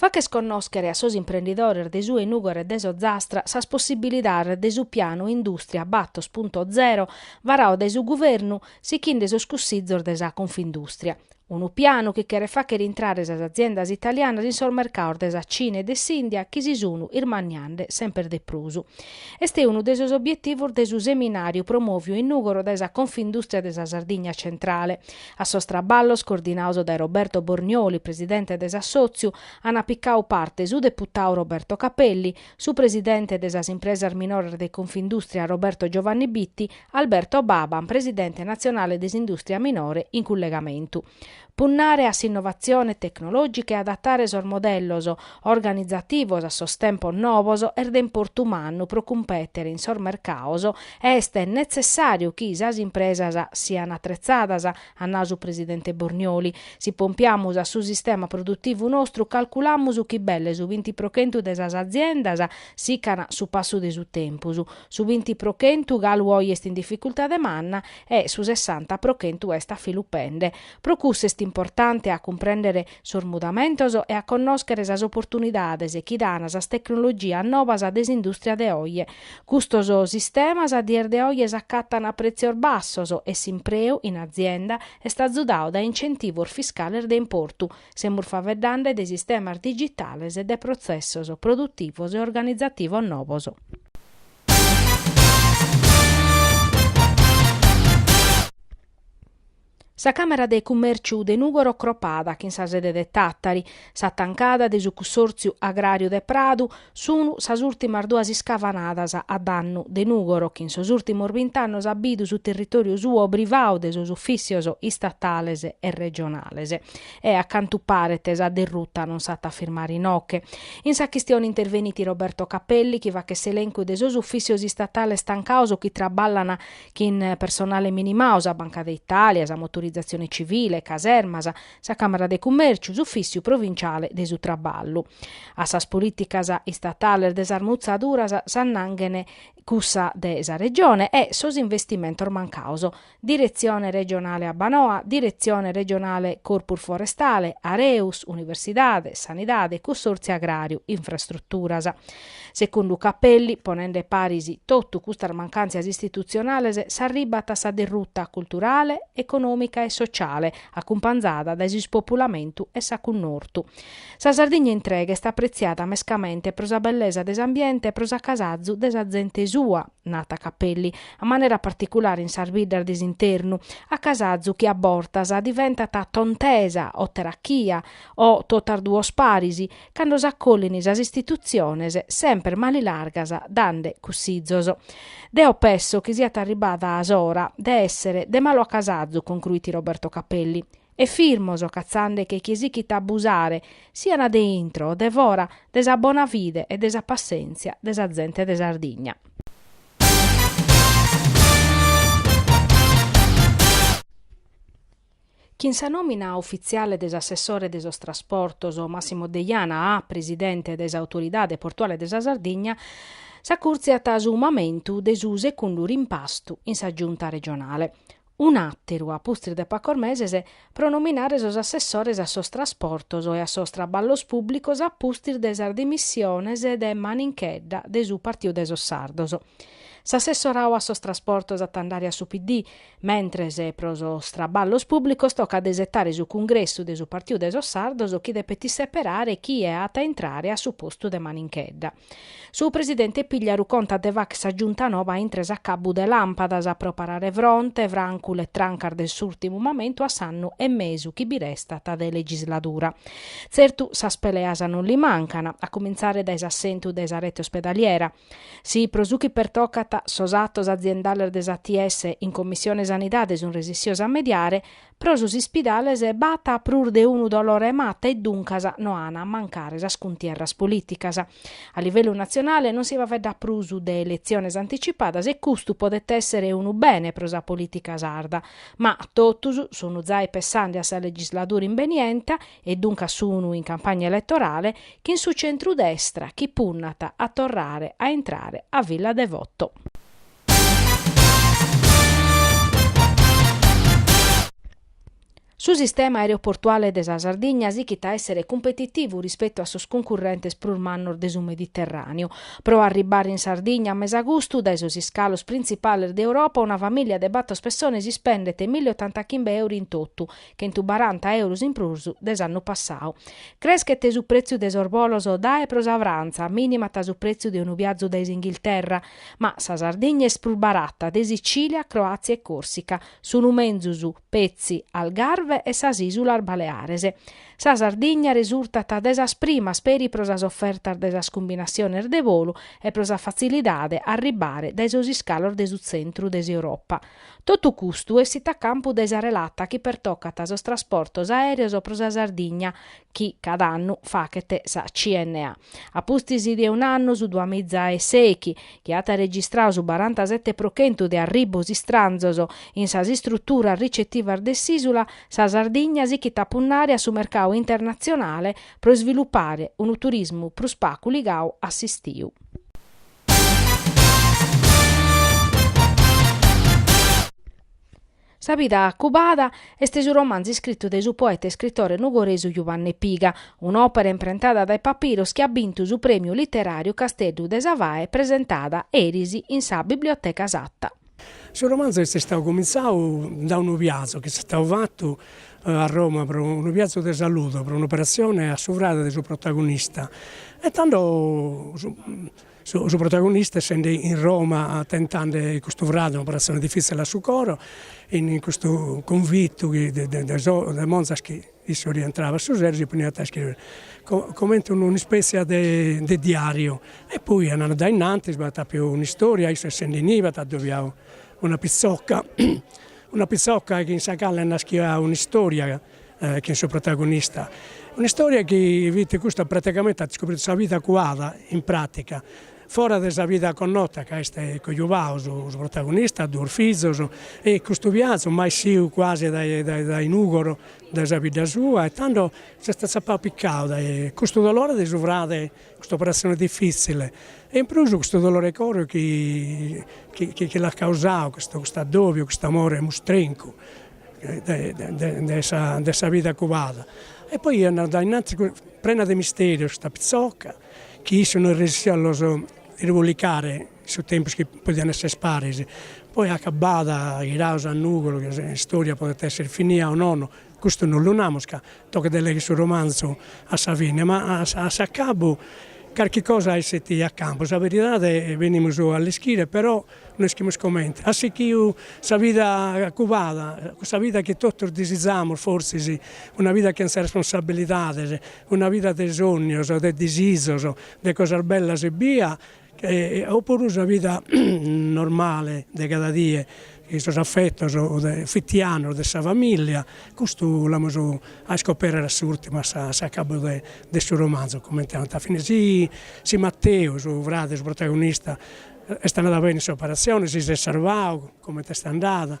Fàcher connòschere a sos imprendidores de su 'e Nùgoro e de s'Ozastra sas possibilidades de su pianu Industria Battos Punto Zero varau dae su Guvernu sichinde sos cussizos de sa Confindustria. Unu pianu chi cheret fàcher intrare sas aziendas italianas in sos mercaos de sa Cina e de s'India chi si sun irmanniande semper de prus. Est unu de sos obietivos de su seminàriu promòviu in Nùgoro dae sa Confindustria de sa Sardigna Centrale, A sos traballos, coordinaos dae Roberto Bornioli, presidente de s'assòtziu, ant picau parte su deputau Roberto Capelli, su presidente de sas impresas minores de Confindustria Roberto Giovanni Bitti, Alberto Baban, presidente natzionale de s'industria minore in cullegamentu. Punnare a s'innovatzione tecnològica e adatare sos modellos organizativos a sos tempos nobos est de importu mannu pro cumpètere in sos mercaos Est netzessàriu chi sas impresas sian atretzadas, at nau su presidente Bornioli. Si pompiamus a su sistema produtivu nostru calculamus chi belle su binti pro chentu de sas aziendas sican su passu de su tempus, su binti pro chentu galu oi est in dificultade manna e su sessanta pro chentu est afilupende. Pro cussu est importante a cumprèndere sos mudamentos e a connòschere sas oportunidades chi dan sas tecnologias nobas de s'indùstria de oje. Custos sistemas a dies de oje s'acatan a prètzios bassos e s'impreu in azienda est azudau dae incentivos fiscales de importu, semus faveddande de sistemas digitales e de protzessos produtivos e organizativos nobos. Sa Càmara de Cummèrciu de Nùgoro cropada chin sa sede de Tàtari, sa tancada de su Cussòrtziu Agràriu de Pradu sunu sas ùltimas duas iscavanadas a dannu de Nùgoro chi in sos ùltimos bint'annos at bidu su territòriu suo privau de sos ufìtzios istatales e regionales e, a cantu paret, sa derruta non s'at a firmare inoche. In sa chistione intervenit Roberto Capelli chi fachet s'elèncu de sos ufìtzios istatales tancaos chi traballan chin personale minimau, sa Banca de Italia, sa Motorizatzione Civile, casermas, sa Càmara de Cummèrciu, s'Ufìtziu provinciale de su Traballu. A sas polìticas istatales de sas mutzaduras s'annanghen cussa de sa Regione e sos investimentos mancaos. Diretzione Regionale Abbanoa, Diretzione Regionale Corpus Forestale, Areus, Universidade, Sanidade, Cussòrtziu Agràriu, Infrastruturas. Secundu Capelli, ponende paris totu custas mancàntzias istitutzionales s'arribat a sa derruta culturale, econòmica e sociale, acumpanzada dae s'ispopulamentu e s'acunortu. Sa Sardigna intrega est apretziada mescamente pro sa bellesa de s'ambiente e pro s'acasazu de sa zente sua, nat Capelli, a manera particulare in sas biddas de s'internu, acasazu chi a bortas diventat tontesa o terachia o totas duos paris, cando s'acollin sas istitutziones semper manilargas dande cussizos. Deo pesso chi siat arribbada s'ora de essere de malu acasazu concruit Roberto Capelli e firmos catzandeche chie sichit a abusare sian de intro o de fora de sa bona fide e de sa passenzia de sa zente de Sardigna. Chin sa nòmina ufitziale de s'assessore de sos trasportos Massimo Deiana a presidente de s'Autoridade Portuale de sa Sardigna s'acurtziat su mamentu de su secundu rimpastu in sa Giunta regionale, un'àteru a pustis de pacos meses, pro nominare sos assessores a sos trasportos e a sos traballos pùblicos a pustis de sas dimissiones de Maninchedda de su Partiu de sos Sardos. S'assessorau a sos trasportos at a andare a su PD, Mentres pro sos traballos pùblicos tocat de isetare su cungressu de su Partiu de sos Sardos chi depet isseperare chie at a intrare a su postu de Maninchedda. Su presidente Pigliaru contat de facher sa giunta nova a intre s'acabbu de làmpadas pro parare fronte, francu letrancas de s'ùrtimu mamentu a s'annu e mesu chi bi restat de legisladura. Tzertu sas peleas non li mancan, a cumintzare dae s'assentu de sa rete ospedaliera. Si, pro su chi pertocat sos atos aziendales de s'ATS, in Commissione Sanidade sun resissios a mediare, pro sos ispidales b'at prus de unu dolore 'e mata e duncas no an a mancare sas cuntierras polìticas. A livellu natzionale non si faveddat prus de eletziones anticipadas e custu podet èssere unu bene pro sa polìtica sarda. Ma totus sun zai pessande a sa legisladura imbenienta e duncas sun in campagna eletorale chin su centrudestra chi punnat a torrare a intrare a Villa Devoto. Su sistema aereoportuale de sa Sardigna sichit a èssere cumpetitivu rispetu a sos cuncurrentes prus mannos de su Mediterràneu. Pro arribbare in Sardigna a mesagustu, dae sos iscalos printzipales de Europa, una famìlia de batos pessones ispendet mille e otantachimb'euri in totu, Chentubaranta euros in prus de s'annu passau. Creschet su pretziu de sos bolos dae e pro sa Frantza, minimat su pretziu de unu biazu dae s'Inghilterra, ma sa Sardigna est prus barata de Sicilia, Croàtzia e Còrsica, sunu menzus petzi Algarve e sas Ìsulas Baleares. Sa Sardigna resurtat de sas primas peri pro sas ofertas de sas cumbinatziones de bolu e pro sa fatzilidade a arribbare dae sos iscalos de su tzentru de s'Europa, Totu custu essit a campu de sa relata chi pertocat sos trasportos aèreos pro sa Sardigna chi cada annu faghet sa CNA. A pustis de un'annu, su duamiza e sèighi, chi at arregistradu su barantasete pro chentu de arribbos istranzos in sas istruturas ricetivas de s'ìsula, sa Sardigna sighit a punnare a su mercadu internatzionale pro isvilupare unu turismu prus pagu ligadu a s'istiu. Sa bida cubada est su romanzu iscritu dae su poeta e iscritore nugoresu Juvanne Piga, un'òpera imprentada dae Papiros chi at bintu su prèmiu literàriu Casteddu de sa Fae presentada eris in sa Biblioteca Satta. Su romanzu est istadu comintzadu dae unu viazu chi est istadu fatu a Roma pro unu viazu de salude pro un'operatzione a su frade de su protagonista e tando su su protagonista essende in Roma tentande custu frade un'operatzione diffizzile a su coro in custu cunvittu chi de de de so de monzas chi Issu rientrabat a su sero si poniat a iscrìbere comente unu un'ispètzia de de diàriu e poi andande dae innantis, b'at apiu un'istoria, issu essende inibe at adobiau una pitzoca, una pitzoca chin sa cale naschiat un'istoria chin su protagonista, un'istoria chi fit custa praticamente at iscopritu sa vida cuada in pràtica Fora de sa vida connota ca est cojubau su protagonista, duos fizos e custu viazu mai essiu cuasi dae Nùgoro dae sa bidda sua e tando s'est atzapau picau dae custu dolore de su frade, custa operazione diffizzile e in prus custu dolore 'e coro chi chi l'at causau custu custu addobiu, custu amore mustrencu de sa de sa vida cubada e poi andat dae innantis prena de misterios custa pitzoca Chi issu no resessit a los irbolicare in su tempus chi podiant esser paris, poi acabada, ghirados a Nùgoro, chi s'istòria podet esser finia o nono, custu no lu namus ca tocat de legher su romanzu a sa fine, ma a a s'acabu carchi cosa essit a campu, sa beridade benimus a l'ischire però no ischimus comente at sichiu sa vida cubada, cussa vida chi totus disizamus forsis, una vida chentza responsabilidades Una vida de sònnios, de disisos, de cosas bellas ebbia, o puru sa vida normale de cada die, in sos affettos fitianos de sa familia, custu l'amus a iscoperrere a s'urtimu, a s'acabbu de su romanzu, comente at a finire. Si Matteu, su frade, su protagonista, est andadu bene in s'operatzione, si s'est sarvadu, comente est andada